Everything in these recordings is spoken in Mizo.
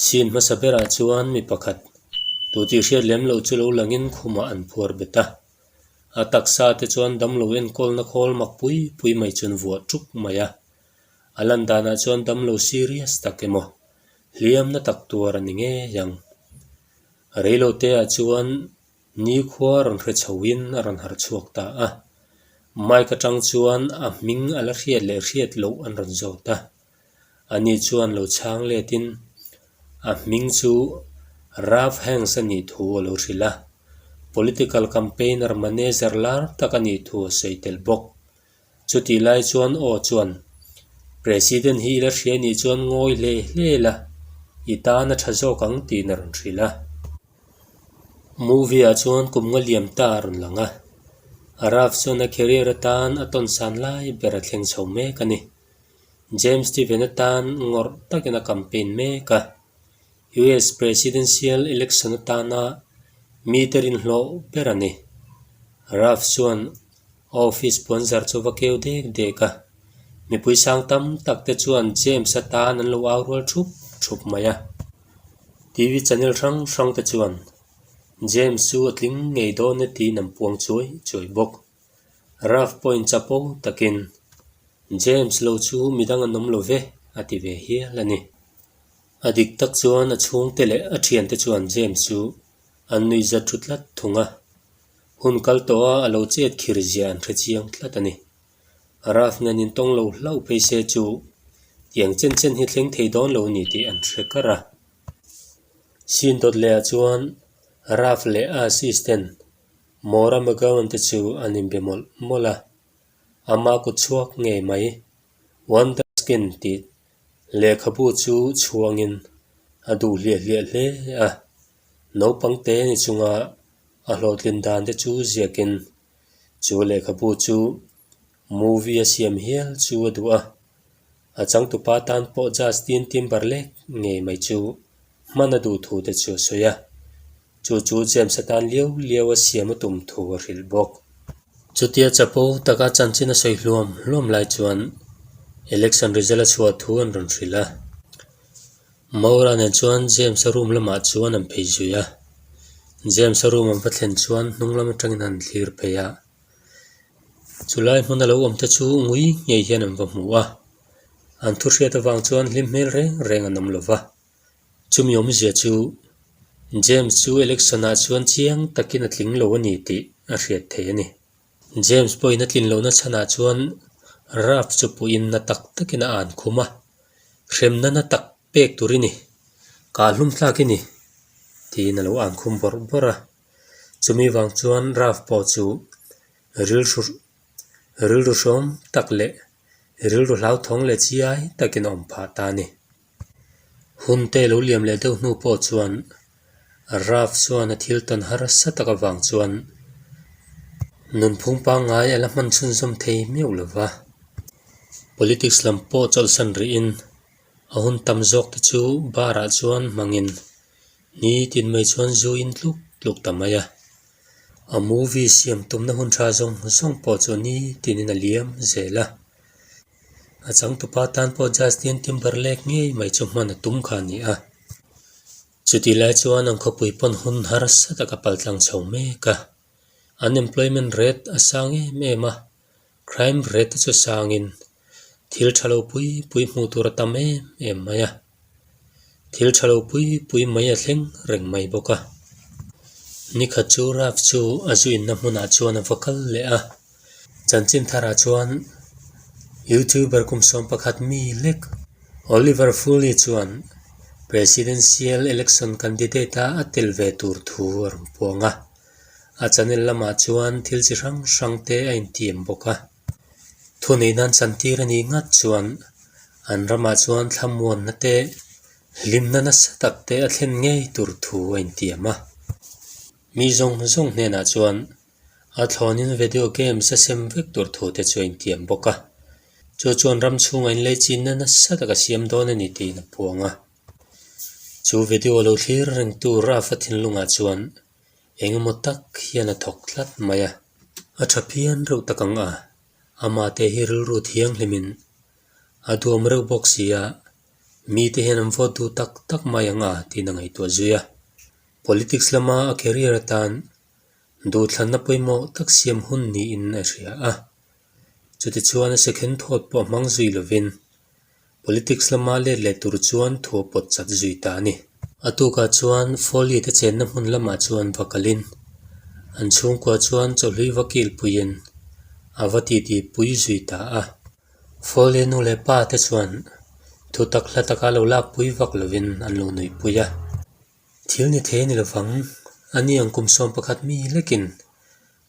Scene hmasa berah chuan mi pakhat tu tih hriat lem loh chu lo langin khumah an phuar bet a. A taksa te chuan damlo enkawlna khawl mak pui pui mai chuan vuah ṭuk mai a. A lan danah chuan damlo serious tak emaw hliamna tak tur a ni ngei ang. Reilotea chuan. Nikhua rawn hre chho in a rawn harh chhuak ta a, Mike atang chuan a hming a la hriat leh hriat loh an rawn zawt a. Ani chuan lo chhang let in a hming chu Ralph Hanks a nih thu a lo hrilh a, political campaigner manager lar tak a nih thu a sawi tel bawk. Chutih lai chuan aw chuan President hi ila hria nih chuan ngawi hle hle la, i tana tha zawk ang tih na rawn hrilh a. Movie ah chuan kum nga liam ta a rawn lang a, Arav chuan a career atan a tawn san lai ber a thleng chho mek a ni. James Steven atan ngawrh takin a campaign mek a. US Presidential election atana mite rinhlawh ber a ni. Ruff chuan office puan zar chu va keu dek dek a. Mipui sang tam tak te chuan James a tan an lo au rual thup thup mai a. TV channel hrang hrang te chuan James chu a tling ngei dawn e tiin an puang chuai chuai bawk. Rough point chapo takin, James lo chu midang an awm lo ve, a ti ve hial a ni. A dik tak chuan a chhungte leh a thiante chuan James chu an nui zat thu tlat thung a, hun kal tawh a a lo chet khir zia an hre chiang tlat a ni. Rough ngen in tawng lo hlauh phei se chu, tiang chen chen hi thleng thei dawn lo a ni tih an hre kar a. Sin dawt leh ah chuan Rough leh a assistant Maura McGowan te chu an inbe mawlh mawlh a, ama kut chhuak ngei mai, Wonderskin tih lehkhabu chu chhuangin a duh hliah hliah hle a, naupang te ni chunga a hlawhtlin dan te chu ziakin chu lehkhabu chu Movie a siam hial chu a duh a, a changtupa tan pawh Justin Timberlake ngei mai chu hman a duh thu te chu a sawi a, chu chu James a tan lio lio a siam a tum thu a hrilh bawk. Chutia chapo taka chanchin a sawi hluam hluam lai chuan election result a chhuah thu an rawn hrilh a. Maura nen chuan James a room lamah chuan an phei zui a, James a room an va thlen chuan hnunglam atangin an thlir phei a, chulai hmun a lo awm te chu ngui ngei hian an va hmu a an thu hriat avang chuan hlim hmel reng reng an awm lo va chu mi awm zia chu James chu election ah chuan chiang takin a tling lo a ni tih a hriat theih a ni James pawhin a tlin lohna chhan ah chuan Ralph chu puh in na tak tak in a an khum a hrem nana tak pek tur i ni kah hlum thlak i ni tiin a lo an khum bawrh bawrh a. Chumi vang chuan Ralph pawh chu rilru rilru hrawm tak leh rilru hlauthawng leh chiai takin a awm phah ta a ni. Hun te lo liam leh deuh hnu pawh chuan Ralph chuan a thil tawn harsa taka vang chuan nunphung pangngai a la hman chhunzawm thei meuh lo va. Politics lam pawh chawlhsan rihin a hun tam zawk te chu bar ah chuan hmangin Ni tin mai chuan zu in tluk tluk ta mai a, a movie siam tumna hun tha zawng zawng pawh chu ni tin in a liam zel a. A changtupa tan pawh Justin Timberlake ngei mai chu hman a tum kha a ni a. Chuti lai chuan an khawpui pawn hun harsa taka paltlang chho mek a, unemployment rate a sang em em a. Crime rate te chu sangin thil tha lo pui pui hmuh tur a tam em em mai a, thil tha lo pui pui mai a thleng reng mai bawk a. Ni khat chu Ralph chu a zu inna hmunah chuan a va kal leh a. Chanchinthara chuan YouTuber kum sawm pakhat mi lek Oliver Foley chuan Presidential Election Candidate-a a tel ve tur thu a rawn puang a. A Chanel lamah chuan thil chi hrang hrang te a intîm bawk a. Thuneihna an chan tîr a nih ngât chuan an ramah chuan thlamuanna te, hlimna nasa tak te a thlen ngei tûr thu a intiam a. Mi zawng zawng hnênah chuan a thlâwnin video games a sem vek tûr thu te chu a intiam bawk a. Chu chuan ram chhûnga inleichinna nasa tak a siam dâwn a ni tiin a puang a. Chu video lo thlîr reng tûr a fa thinlungah chuan engemaw tak hian a thawk tlat mai a. A tha phian reuh tak ang a, amah te hi rilru thiang hlimin a duam reuh bawk si a, mite hian an vote duh tak tak mai ang a tiin a ngaihtuah zui a. Politics lama a career atan duhthlanna pawimawh tak siam hun niin a hria a, chutichuan a second thought pawh a hmang zui lovin. Politics lama let leh tur chuan thua pawt chat zui ta a ni. A tukah chuan Foley te chenna hmun lamah chuan va kalin an chhungkua chuan chawhlui va kilpuiin a va titipui zui ta a. Foley nu leh pa te chuan thutak hla taka lo lakpui vak lovin an lo nuihpui a. Thil ni thei a ni lovang, a ni ang kum sawm pakhat mi lekin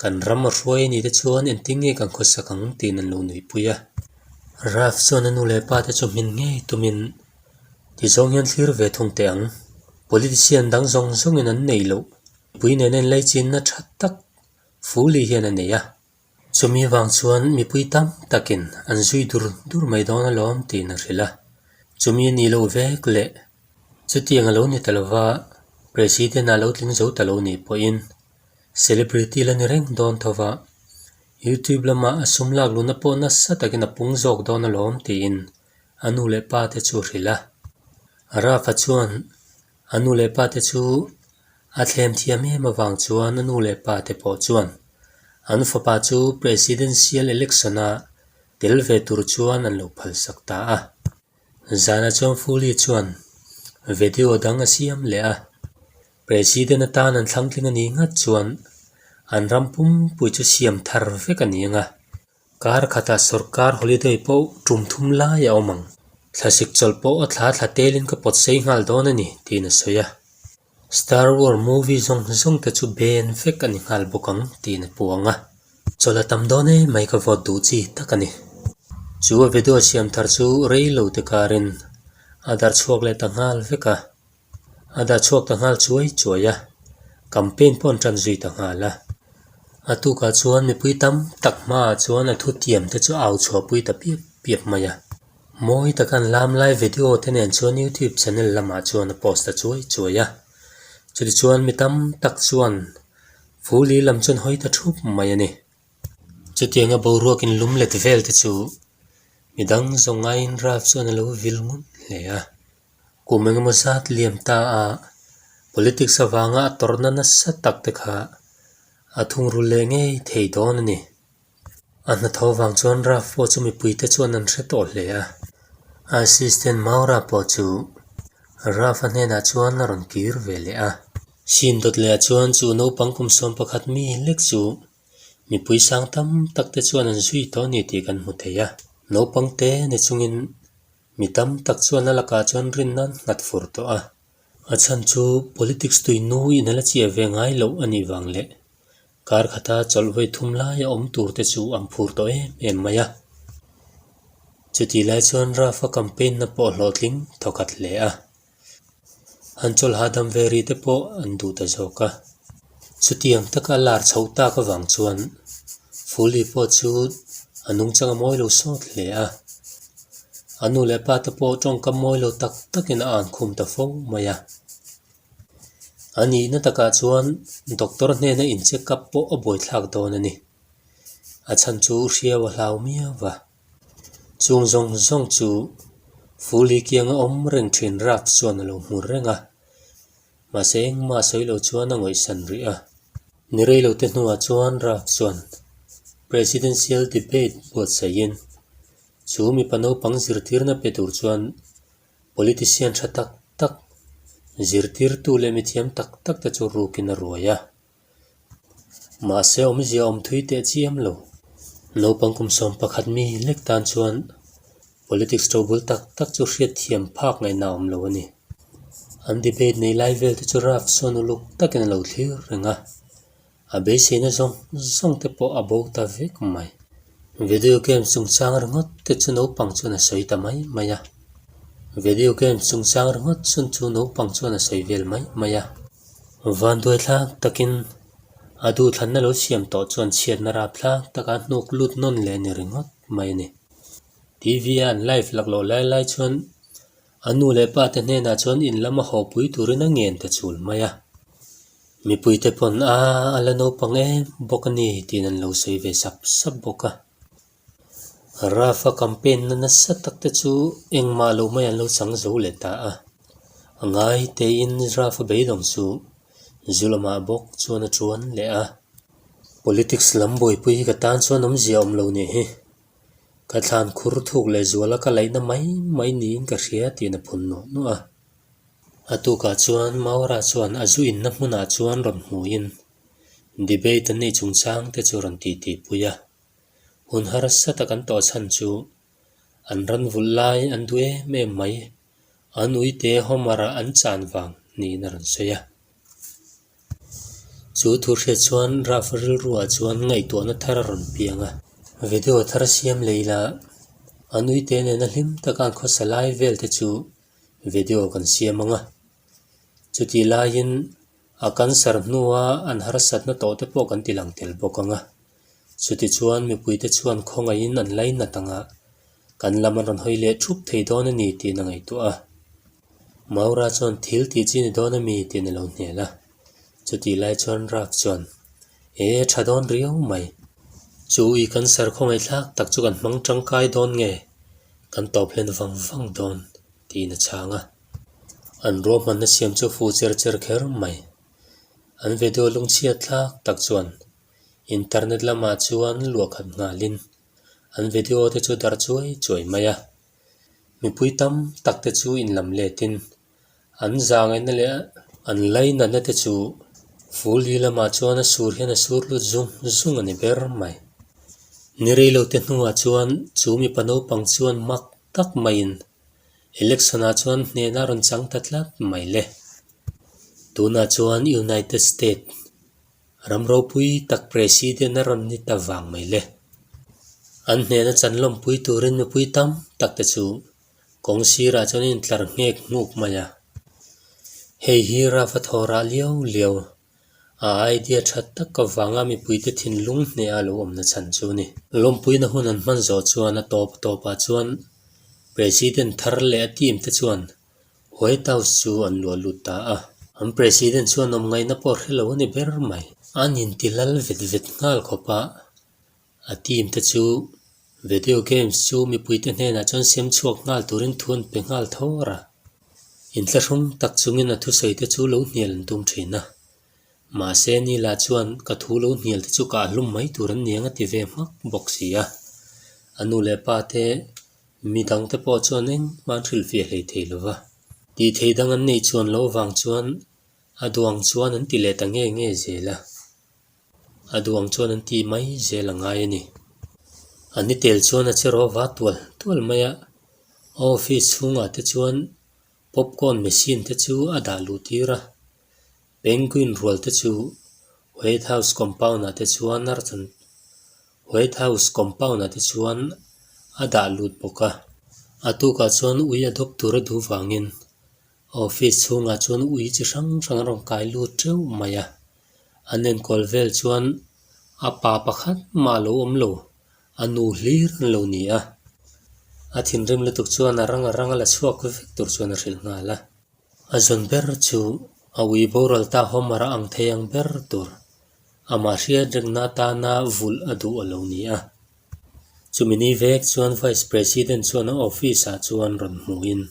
Kan ram a hruai a nih te chuan engtin nge kan khawsak ang tiin an lo nuihpui a. Ralph chuan a nu leh pa te chu hmin ngei tumin ti zawng hian thlir ve thung teh ang. Politician dang zawng zawngin an nei loh pui nena inleichinna tha tak Fuli hian a nei a. Chumi vang chuan mipui tam takin an zui dur dur mai dawn a lawm tiin a hrilh a. Chumi a nih loh vek leh chutiang a lo ni ta lova President-a a lo tling zo ta lo nih pawhin, Celebrity la ni reng dawn tho va, YouTube lamah a sum lak luhna pawh nasa takin a pung zawk dawn alawm tiin a nu leh pa te chu a hrilh a. Raf-a chuan a nu leh pa te chu a thlem thiam em avang chuan a nu leh pa te pawh chuan an fapa chu Presidential Election-a tel ve tur chuan an lo phalsak ta a. Zana chuan Fuli chuan video dang a siam leh a. President atan an thlangtling a nih nghat chuan an ram pumpui chu siam thar vek a ni ang a. Kar khatah sorkar holiday pawh tum thum lai a awm ang. Thlasik chawlh pawh a thla thla telin ka pawtsei nghal dawn a ni, tiin a sawi a. Star Wars movie zawng zawng te chu ben vek a ni nghal bawk ang, tiin a puang a. Chawlh a tam dawn e mai ka vote duh chi tak a ni. Chu a Veduat siam thar chu rei lo te karin a darh chhuak leh ta nghal vek a. A dah chhuak ta nghal chuai chuai a, campaign pawh an tan zui ta nghal a. A tukah chuan mipui tam tak hmaah chuan a thutiam te chu au chhuah pui ta piap piap mai a. Mawi taka an lam lai video te nen chuan YouTube channel lamah chuan a post ta chuai chuai a. Chutih chuan mi tam tak chuan Fu Li lam chuan hawi ta thup mai a ni. Chutiang a boruak in lum let vel te chu midang zawng aiin ralf chuan a lo vil ngawt hle a. Kum engemaw zat liam ta ah politics avanga a tawrhna nasa tak te kha a thungrul leh ngei thei dawn a ni. A hna tho vang chuan Raf pawh chu mipuite chuan an hre tawh hle a. Assistant Maura pawh chu Raf a hnenah chuan a rawn kir ve leh a. Chin dawt leh ah chuan chu naupang kum sawm pakhat mi lek chu mipui sang tam tak te chuan an zui tawh a ni tih kan hmu thei a. Naupangte ni chungin Mi tam tak chuan a lakah chuan rinna an nghat fur tawh a, a chhan chu politics tuihnu in ala chiah ve ngai loh a nih vang leh kar khata chawlhvei thum lai a awm tur te chu an phur tawh em em mai a. Chutih lai chuan Rafa campaign na pawh hlawhtling thaw khat hle a. An chawl hahdam ve ri te pawh an duh ta zawk a. Chutiang taka a lar chho tak avang chuan Fuli pawh chu a nung chang a mawi lo sawt hle a. A nu leh pa te pawh tawngkam mawi lo tak takin a an khum ta fo mai a. A nihna takah chuan doctor hnena in check up pawh a buaithlak dawn a ni. A chhan chu hriau a hlau miau a. Chung zawng zawng chu Fuli kianga awm reng thin rak chuan a lo hmur reng a, mahse engmah a sawi lo chuan a ngawihsan rih a. Ni rei lo te hnuah chuan rak chuan Presidential Debate buatsaihin chu mipa naupang zirtirna pe tur chuan Politician tha tak tak, zirtirtu leh mithiam tak tak te chu rukin a ruai a. Mahse awmzia awm thui teh chiam lo. Naupang kum sawm pakhat mi lek tan chuan politics to bul tak tak chu hriatthiam phak ngaihna awm lo a ni. An debate nei lai vel te chu rap sawn uluk takin a lo thlir reng a, a beiseina zawng zawng te pawh a bo ta vek mai. Video games chungchang ringawt te chu naupang chuan a sawi ta mai mai a. Video games chungchang ringawt sawn chu naupang chuan a sawi vel mai mai a. Vanduai thlak takin a duhthlanna lo siam tawh chuan chhiatna rap thlak taka hnuk lut nawn leh ni ringawt mai a ni. TV a an live lak loh lai lai chuan a nu leh pa te hnenah chuan in lam a haw pui turin a ngen ta chul mai a. Mipui te pawn aa a la naupang em bawk a ni tiin an lo sawi ve sap sap bawk a. Rafa campaign na nasa tak te chu engmah lo mai an lo chang zo leh ta a. A ngai tein Rafa beidawng chu zu lamah bawk chuan a ṭuan leh a. Politics lam buaipui hi ka tan chuan awmzia a awm lo nih hi. Ka thlan khur thuk leh zuala ka laihna mai mai niin ka hria tih na phun nuah nuah a. A tukah chuan Maura chuan a zu inna hmunah chuan rawn hmuin debate an nei chungchang te chu a rawn titipui a. hun harsa tak an tawh chhan chu an ran vulh lai an duh em em mai, an uite Homer-a an chan vang niin a rawn sawi a. Chu thu hriat chuan Ralph-a rilruah chuan ngaihtuahna thar a rawn piang a. Video thar siam lei la, an uite nena hlim taka an khawsa lai vel te chu video kan siam ang a. Chutih laiin a cancer hnua an harsatna tawh te pawh kan ti lang tel bawk ang a. Chuti chuan mipuite chuan khawngaihin an lei nat ang a, kan lam an rawn hawi leh thup thei dawn a ni tiin a ngaihtuah a. Maura chuan thil tih chi ni dawn a mi tiin a lo hnel a. Chutih lai chuan Ralph chuan, E, tha dawn riau mai. Chu i kan serkhaw ngaihthlak tak chu kan hmang tangkai dawn nge? Kan tawp hlen vang vang dawn, tiin a chhang a. An ruahmanna siam chu fuh cher cher kher mai. An vedualung chhiat thlak tak chuan. Internet lamah chuan luahkhat nghalin an video te chu dar chuai chuai mai a. Mipui tam tak te chu in lam letin an zangaina leh an lainatna te chu Ful Li lamah chuan a sur hian a sur lut zung zung a ni ber mai. Ni reilo te hnungah chuan chu mipa naupang chuan hmak tak maiin election ah chuan hnehna a rawn chang ta tlat mai le. Tunah chuan United States Ram ropui tak president a rawn ni ta vang mai le. An hnena chan lawmpui turin mipui tam tak te chu kawng sirah chuan a intlar nghek nghuk mai a. Hei hi Rafa thawra lio lio a idea tha tak avanga mipuite thinlung hneha lo awmna chhan chu ni. Lawmpuina hun an hman zawh chuan a tawp a tawpah chuan president thar leh a team te chuan White House chu an luah lut ta a, an president chuan awm ngaihna pawh hrelo a ni ber mai. An intilal vet vet nghal khawp a, a team te chu video games chu mipuite hnenah chuan siam chhuak nghal turin thu an pe nghal thawr a, inthlahrung tak chungin a thusawi te chu lo hnial an tum thin a, Mahse ni lah chuan ka thu lo hnial te chu ka ahlum mai tur an ni ang a ti ve hmak bawk si a. A nu leh pa te mi dang te pawh chuan engmah an hrilh fiah hlei thei lo va. Tih thei dang an nei chuan lo vang chuan a duang chuan an ti leh ta nge nge zel a. A duang chuan an ti mai zel a ngai a ni. A ni tel chuan a che rova tual tual mai a. Office chhungah te chuan popcorn machine te chu a dah luh tir a. Penguin rual te chu White House compound ah te chuan a rawn White House compound ah te chuan a dah lut bawk a. A tukah chuan ui a dawp tur a duh vangin office chhungah chuan ui chi hrang hrang a rawn kai lut teuh mai a. An enkawl vel chuan a pa pakhat mah lo awm lo, a nu hlir an lo ni a. A thinrim lutuk chuan a rang a rang a la chhuak vek tur chuan a hrilh nghal a. A zawn ber chu a ui boral ta hawmara ang thei ang ber tur amah hriat rengna atana vulh a duh a lo ni a. Chumi ni vek chuan Vice President chuan a office ah chuan rawn hmuhin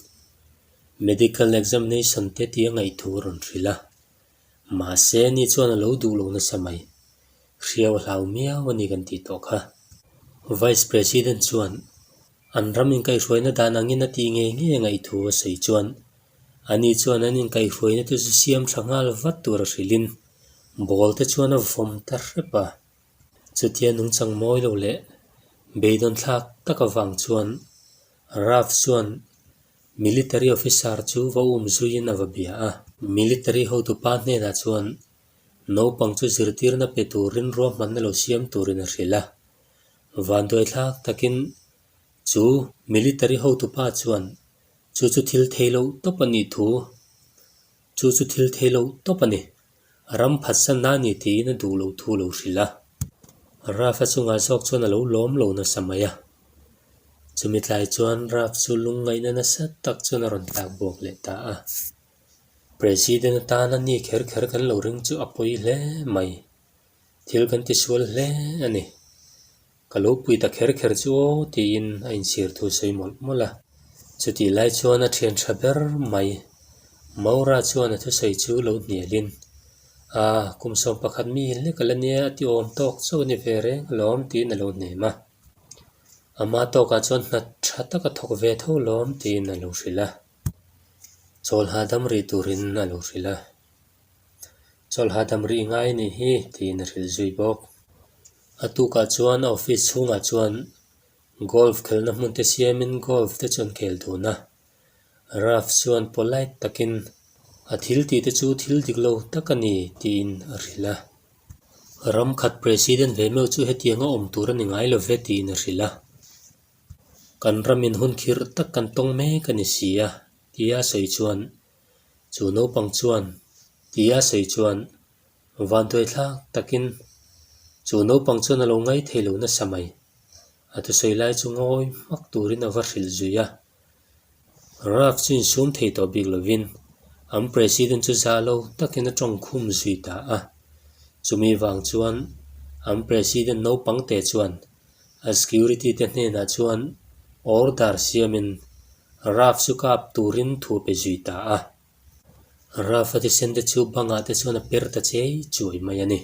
medical examination te tia ngaih thu rawn hrilh a. Mahse ni chuan a lo duh lo nasa mai. Hriau hlau miau a ni kan tih tawh kha. Vice President chuan an ram inkairuaina dan angin a tih ngei ngei a ngaihtu a sawi chuan a ni chuan an inkairuaina te chu siam tha nghal vat tur a hrilhin ball te chuan a vawm ta hrep a. Chutia nung changmawi lo leh beidawn thlak taka vang chuan Ralph chuan Military officer chu va um zuiin a va bia a. Military hotupa hnenah chuan naupang chu zirtirna pe turin ruahmanna lo siam turin a hrilh a. Vanduaithlak takin chu Military hotupa chuan chu chu thil thei loh tawp a nih thu Chu chu thil thei loh tawp a ni. A ram phat sa na ni tiin a duh loh thu lo hrilh a. Rafa chungah zawk chuan a lo lawm lo nasa mai a. Chumi tlai chuan Raf chu lung ngaihna nasa tak chuan a rawn tlak bawk leh ta a. President atan a ni kher kher kan lo ring chu a pawi hle mai. Thil kan ti sual hle a ni. Ka lo pui ta kher kher chu aw tiin a inchhir thu sawi mawlh mawlh a. Chutih lai chuan a thian tha ber mai. Maura chuan a thusawi chu lo hnialin, Aa, kum sawm pakhat mi hlek ka la nia a tiawm tawk chauh ni ve reng alawm tiin a lo hnem a. Ama tawkah chuan hna tha tak a thawk ve tho lawm tiin a lo hrilh a. Chawlha dam rih turin a lo hrilh a. Chawlha dam rih ngai a nih hi tiin a hrilh zui bawk. A tukah chuan a office chhungah chuan golf khelhna hmunte siamin golf te chuan khel duna Ralph chuan polite takin, A thil tihte chu thil dik lo tak a ni, tiin a hrilh a. Ram khat president ve meuh chu hetiang a awm tur a ni ngai lo ve, tiin a hrilh a. Kan ramin hun khirh tak kan tawng mek a ni si a, tia sawi chuan Chu naupang chuan ti a sawi chuan Vantuai thlak takin chu naupang chuan a lo ngai thei lo nasa mai. A ti sawi lai chu ngawi hmak turin a va hrilh zui a. Ralph chu insum thei tawh bik lovin an president chu zah lo takin a tawng khum zui ta a. Chumi vang chuan an president naupangte chuan. A security te hnenah chuan order siamin Raf chu kap turin thu pe zui ta a. Raf a thisen te chu bangah te chuan a per ta chei chuai mai a ni.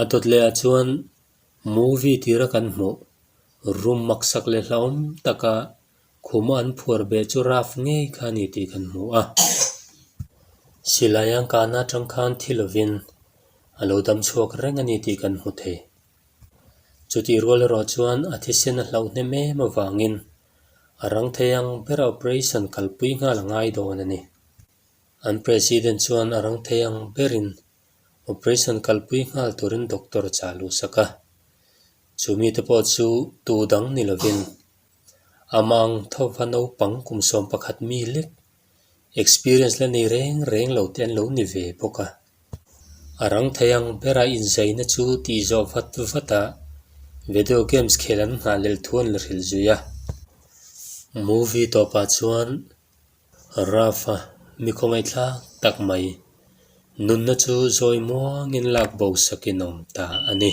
A dawt lehah chuan movie tira kan hmuh room maksak leh hlauhawm taka khuma an phuar beh chu Raf ngei kha a ni tih kan hmu a. Silai ang kahna atang khan thil lovin a lo dam chhuak reng a ni tih kan hmu thei. Chutih rual erawh chuan a thisen a hlauh hnem em avangin a rang thei ang bera operation kalpui nghal a ngai dawn a ni. An President chuan a rang thei ang berin operation kalpui nghal turin doctor a chah luh sak a. Chu mite pawh chu tu dang ni lovin a mangtho va naupang kum sawm pakhat mi lek, experience la nei reng reng lo te an lo ni ve bawk a, a rang thei ang bera inzaina chu tih zawh vat vat a video games khel an nghah lel thu an la hrilh zui a, movie tawpah chuan rough a mi khawngaih thlak tak mai nunna chu zawi muangin lak bo sakin awm ta a ni.